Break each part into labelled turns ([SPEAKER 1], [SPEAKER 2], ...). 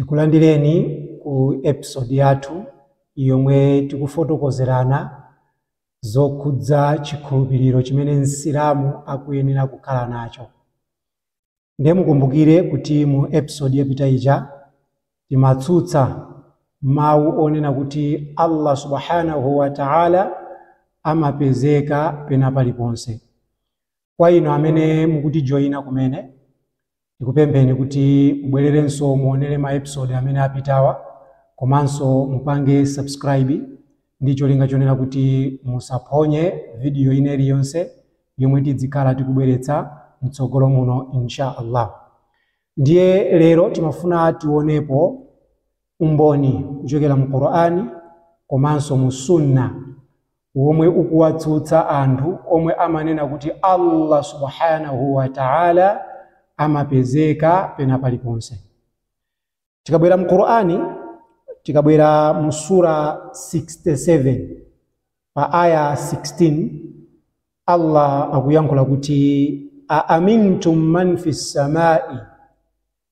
[SPEAKER 1] Tikulandireni ku episode yathu yomwe tikufotokozerana zokhudza chikhulupiriro chimene Msilamu akuyenera kukhala nacho. Nde mukumbukire kuti mu episode yapita ija timatsutsa mawu onena kuti Allah Subhanahu wa Ta'ala amapezeka pena paliponse. kwa inu amene mukutijoyina kumene tikupempheni kuti mubwererenso muonere ma episode amene apitawa komanso mupange subscribe ndi cholinga chonena kuti musaphonye vidiyo ina iliyonse yomwe tidzikhala tikubweretsa mtsogolo muno insha allah ndiye lero timafuna tionepo umboni kuchokera mu qur'ani komanso mu sunna womwe ukuwatsutsa anthu omwe amanena kuti Allah subhanahu wa ta'ala amapezeka pena paliponse tikabwera mu Qur'ani tikabwera mu sura 67 pa aya 16 Allah akuyankhula kuti a amintum man fis samai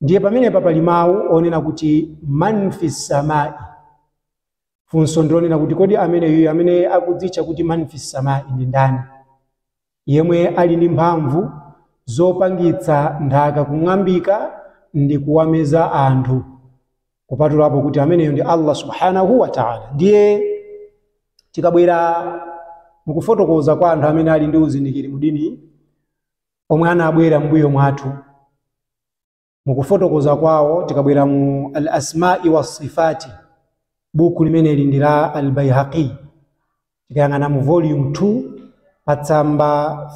[SPEAKER 1] ndiye pamenepa pali mawu onena kuti man fi samai funso ndilonena kuti kodi ameneyu amene akudzitcha kuti man fi samai ndi ndani yemwe ali ndi mphamvu zopangitsa nthaka kung'ambika ndi kuwameza anthu kupatulapo kuti ameneyo ndi allah subhanahu wa taala ndiye tikabwera mukufotokoza kwa anthu amene ali ndi uzindikiri mudini omwe anabwera m'mbuyo mwathu mukufotokoza kwawo tikabwera mu al asmai wasifati buku limeneli ndi la al baihaqi tikayang'ana mu volume 2 pa tsamba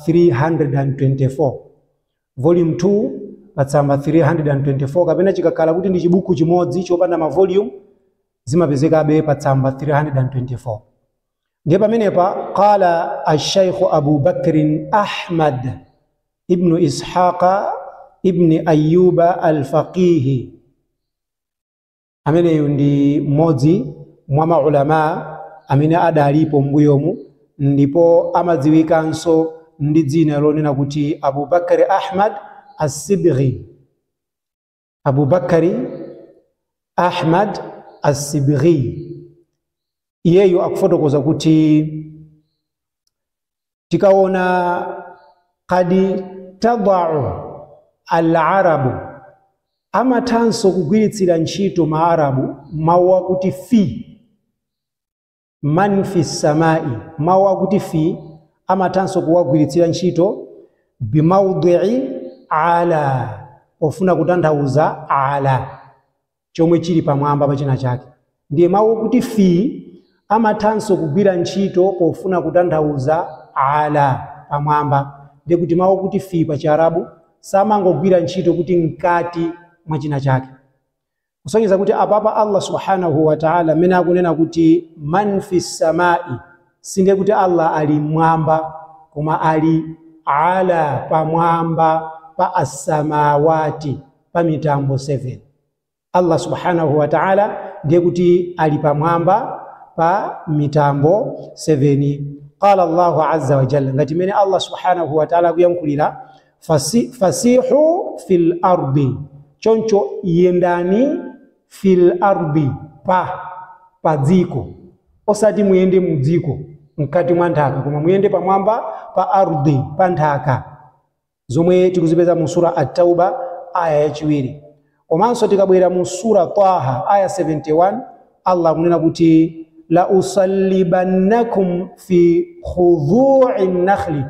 [SPEAKER 1] 324 volume 2 pa tsamba 324 kapena chikakhala kuti ndi chibuku chimodzi chopanda ma volume zimapezekabe pa tsamba 324 ndiye pamenepa qala alshaikhu abu bakrin ahmad ibnu ishaqa ibni ayuba alfaqihi ameneyu ndi mmodzi mwa maulama amene adalipo mbuyomu ndipo amadziwikanso ndi dzina lonena kuti abubakari ahmad assibghi Abu Bakari Ahmad As-Sibghi iyeyo akufotokoza kuti tikaona qad tadau alarabu amathanso kugwiritsira ntchito maarabu mawu akuti fi man fi samai mawu akuti fi amathanso kuwagwiritsira ntchito bimaudii ala pofuna kutanthauza ala chomwe chili pamwamba pa china chake ndiye mawu akuti fi amathanso kugwira ntchito pofuna kutanthauza ala pamwamba ndiye kuti mawu okuti fi pa chiarabu samangogwira ntchito kuti mkati mwa china chake kusonyeza kuti apapa Allah subhanahu wa ta'ala mmene akunena kuti man fis samai sindiye kuti Allah ali mmwamba koma ali ala pamwamba pa assamawati pa mitambo 7 Allah subhanahu wa ta'ala ndiye kuti ali pamwamba pa mitambo 7 qala Allahu azza wa jalla ngati mmene Allah subhanahu wa ta'ala akuyankhulira Fasi, fasihu fil ardi, choncho yendani fil ardi, pa pa dziko, osati muyende mu dziko mkati mwa nthaka, koma muyende pamwamba pa ardi, pa nthaka, zomwe tikuzipeza mu sura At-Tauba aya yachiwiri. Komanso tikabwera mu Surah Taha aya 71, Allah akunena kuti la usallibannakum fi judhu'i nakhli,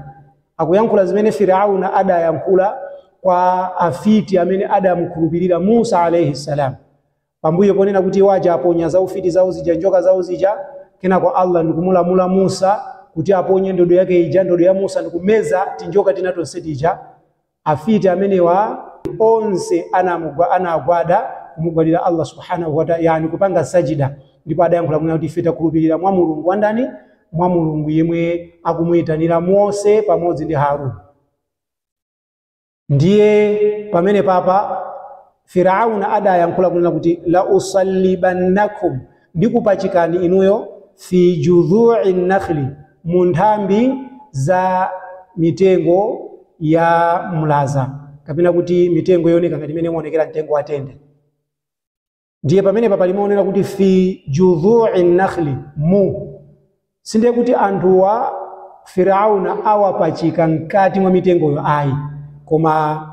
[SPEAKER 1] akuyankhula zimene Firauna adayankhula kwa afiti amene adamukhulupirira Musa alaihi salam, pambuyo ponena kuti iwo aja aponya zaufiti zawo zija, njoka zawo zija, kenako Allah ndikumulamula Musa kuti aponye ndodo yake ija, ndodo ya Musa ndikumeza tinjoka tina tonse tija. Afiti amenewa onse anamugwa, anagwada kumugwadira Allah Subhaanahu wa ta, yaani kupanga sajida, ndipo adayankhula kunena kuti, Ife takhulupirira mwa Mulungu wa ndani? Mwa Mulungu yemwe akumuitanira Mose pamodzi ndi Haarun. Ndiye pamenepapa Firauna adayankhula kunena kuti, Lausallibannakum, ndikupachikani inuyo, fi judhu'i nakhli, mu nthambi za mitengo ya mlaza, kapena kuti mitengo yooneka ngati imene umaonekera mtengo wa tende. Ndiye pamenepa pali mau onena kuti fi judhu'i nakhli, mu. Sindiye kuti anthuwa Firauna awapachika mkati mwa mitengoyo ayi, koma.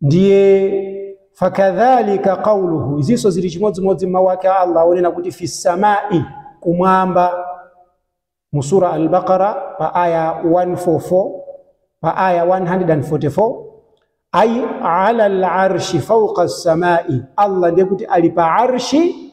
[SPEAKER 1] ndiye fakadhalika qauluhu izinso zili chimodzimodzi mawu ake a allah onena kuti fi samai kumwamba mu sura al-baqara pa aya 144 pa aya 144 ai ala al-arshi fawqa as-samai allah ndiye kuti ali pa arshi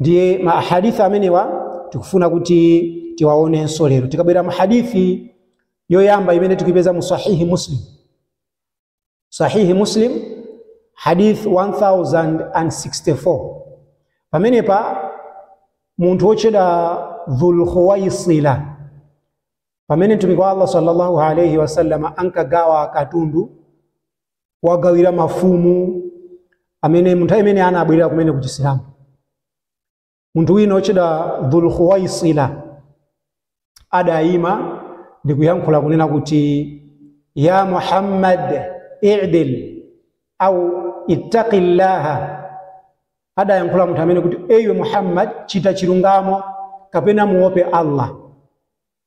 [SPEAKER 1] ndiye ma ahadithi amenewa tikufuna kuti tiwaonenso lero tikabwera mu hadithi yoyamba imene tikuipeza mu sahihi muslim sahihi muslim hadith 1064 pamenepa munthu wotchedwa dhulkhuwaisila pamene mtumiki wa allah sallallahu alaihi wasallama ankagawa katundu kuwagawira mafumu amene munthu amene anabwerera kumene kuchisilamu munthu wina wotchedwa dhulkhuwaisila adayima ndi kuyankhula kunena kuti ya muhammad idil au ittaqi llaha adayankhula munthu amene kuti ewe muhammad chita chilungamo kapena muope allah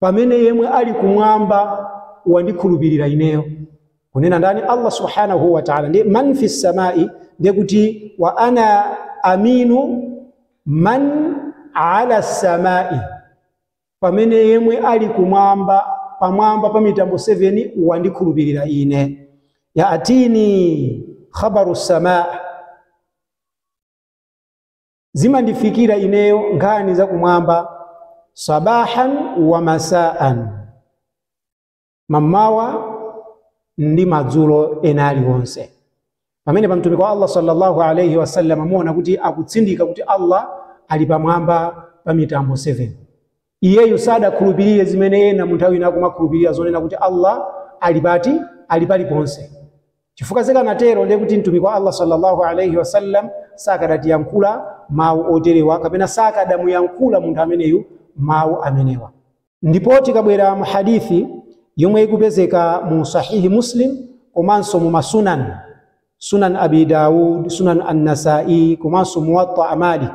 [SPEAKER 1] pamene yemwe ali kumwamba wandikhulupirira ineyo kunena ndani allah subhanahu wa taala ndiye man fi samai ndiye kuti wa ana aminu man ala samai pamene yemwe ali kumwamba pamwamba pa mitambo 7 wandikhulupirira ine yaatini khabaru samai zimandifikira ineyo nkhani za kumwamba sabahan wa masaan mamawa ndi madzulo ena aliwonse pamenepa mtumiki wa allah sallallahu alaihi wasallam mukuona kuti akutsindika kuti allah ali pamwamba pa mitambo 7 Iyeyu sadakhulupirire zimene ena mu nthawi ina akumakhulupirira zonena kuti Allah ali pati? Ali paliponse. Chifukwa zikanatero ndiye kuti Mtumiki wa Allah sallallahu alayhi wasallam sakadatiyankhula mawu oterewa kapena sakadamuyankhula munthu ameneyu mawu amenewa. Ndipo tikabwera mu hadith yomwe ikupezeka mu Sahihi Muslim komanso mu ma Sunan, Sunan Abi Dawud, Sunan An-Nasa'i komanso Muwatta Malik.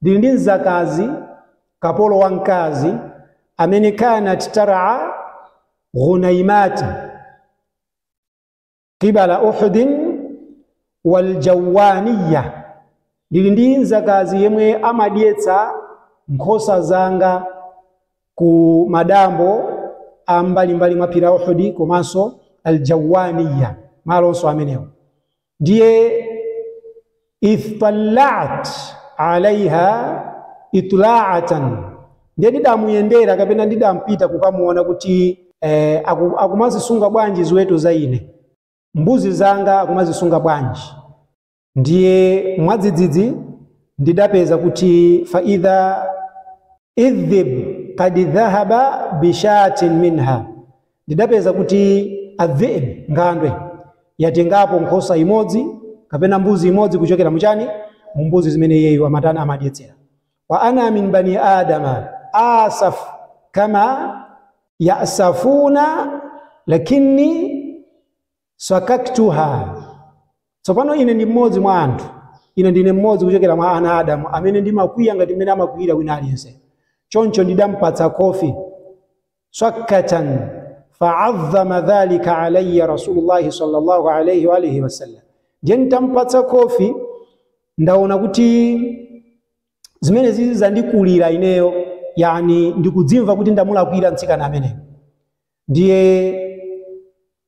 [SPEAKER 1] Ndili ndi mzakazi, kapolo wa mkazi, amene kanat tar'a ghunaimat qibala Uhudin wal jawaniya. Ndili ndi mzakazi yemwe amadyetsa nkhosa zanga ku madambo a mbalimbali mwa phiri la Uhudi komanso al jawaniya, malonso amenewo. Ndiye ittalaatu alaiha itlaatan, ndiye ndidamuyendera kapena ndidapita kukamuona kuti eh, aku- akumazisunga bwanji ziweto za ine, mbuzi zanga akumazisunga bwanji. Ndiye mwadzidzidzi ndidapeza kuti fa idha dhib kad dhahaba bishatin minha, Ndidapeza kuti adh-dhi'b, nkhandwe, yatengapo nkhosa imodzi kapena mbuzi imodzi kuchokera mu chani? Mu mbuzi zimene iyeyu amatani? Amadyetsera. Wa ana min bani Adama asaf kama ya'safuna lakinni swakaktuha tsopano ine ndi mmodzi mwa anthu ine ndine mmodzi kuchokera mwa ana a adamu amene ndimakwiya ngati mmene amakwiyira wina aliyense choncho ndidampatsa kofi swakkatan faadhama dhalika alaya rasulullahi sallallahu alaihi waalihi wasallam ndiye nditampatsa kofi ndaona kuti zimenezizi zandikulira ineyo yani ndikudzimva kuti ndamulakwira mtsikana ameneyu ndiye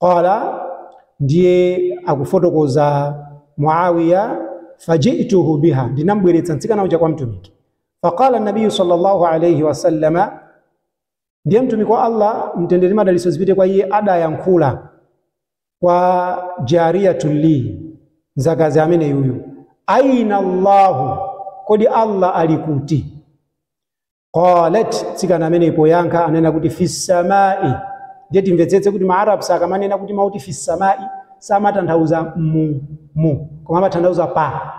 [SPEAKER 1] Qala, ndiye akufotokoza Muawiya, fajituhu biha, ndinambweretsa mtsikana uja kwa Mtumiki. Faqala nabiyu sallallahu alayhi wasallama, ndiye Mtumiki wa Allah mtendere ndi madalitso zipite kwa iye adayankhula kwa jariyatun li, mzakazi ameneyuyu, aina Allahu, kodi Allah ali kuti? qalat mtsikana amene poyankha anena kuti fissamai ndiye timvetsetse kuti maarabs akamanena kuti mau oti fissamai samatanthauza mu mu koma amatanthauza pa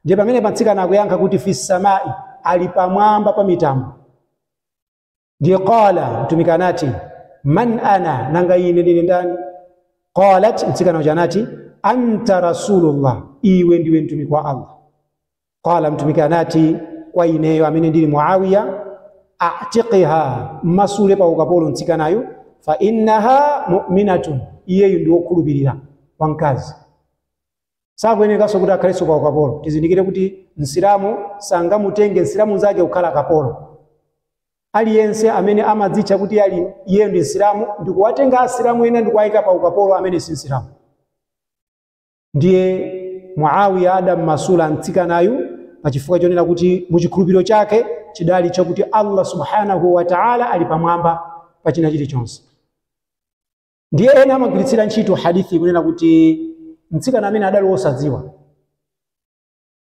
[SPEAKER 1] ndiye pamenepa mtsikana akuyankha kuti fissamai ali pamwamba pa mitambo ndiye qala mtumiki anati man ana nanga ine ndine ndani qalat mtsikana uja anati anta rasulullah iwe ndiwe mtumiki wa allah Qala, Mtumiki anati kwa ineyo amene ndili Muawiya, atiqiha, mmasule pa ukapolo mtsikanayu, fa innaha mu'minatun, iyeyu ndi wokhulupirira wamkazi sakuyenekanso kuti akhalenso pa ukapolo. Tizindikire kuti msilamu sangamutenge msilamu nzake kukhala kapolo. Aliyense amene amadzitcha kuti ali iyeyo ndi msilamu ndikuwatenga asilamu ena ndikuwayika pa ukapolo amene si msilamu. ndiye muawiya adammasula mtsikanayu pa chifukwa chonena kuti muchikhulupiriro chake chidali chakuti allah subhanahu wa taala ali pamwamba pa china chilichonse ndiye ena amagwiritsira ntchito hadithiyi kunena kuti mtsikana amene adali wosadziwa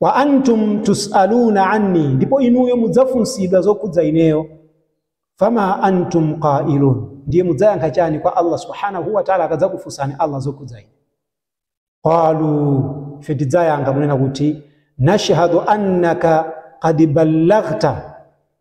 [SPEAKER 1] wa antum tusaluna anni, ndipo inuyo mudzafunsidwa zokhudza ineyo. Fama antum qailun, ndiye mudzayankha chani kwa Allah subhanahu wa ta'ala akadzakufunsani Allah zokhudza ine? Qalu, ife tidzayankha kunena kuti nashhadu annaka qad ballaghta,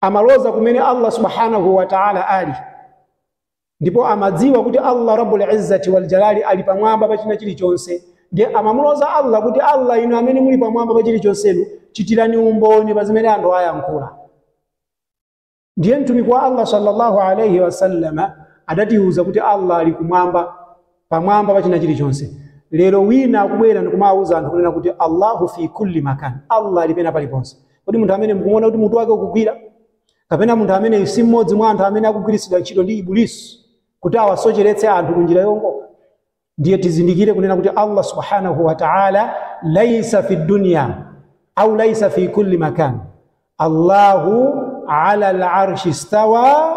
[SPEAKER 1] amaloza kumene Allah subhanahu wa ta'ala ali ndipo amadziwa kuti Allah rabbul izzati wal jalali ali pamwamba pa china chilichonse ndiye amamuloza Allah kuti Allah inu amene muli pamwamba pa chilichonsenu chitirani umboni pa zimene anthu ayankhula ndiye mtumiki wa Allah sallallahu alayhi wasallama adatiuza kuti Allah ali kumwamba pamwamba pa china chilichonse. Lero wina akubwera ndikumawuza anthu kunena kuti Allahu fi kulli makan, Allah ali pena paliponse. Kodi munthu ameneyu mukuona kuti mutu wake ukugwira? Kapena munthu ameneyu si mmodzi mwa anthu amene akugwiritsidwa ntchito ndi Ibulisi kuti awasocheretse anthu ku njira yongoka? Ndiye tizindikire kunena kuti Allah subhanahu wa ta'ala laisa fi dunya au laisa fi kulli makan. Allahu ala al-arshi stawa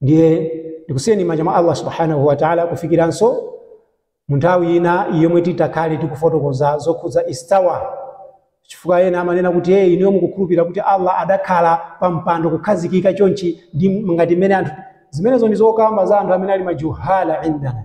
[SPEAKER 1] ndiye ndikusiyeni manja mwa allah subhanahu wa taala kufikiranso mu nthawi ina yomwe titakhale tikufotokoza zokhudza istawa chifukwa ena amanena kuti eee, inuyo mukukhulupirira kuti allah adakhala pa mpando kukhazikika chonchi ndi ngati mmene anthu zimenezo ndi zokamba za anthu amene ali majuhala indana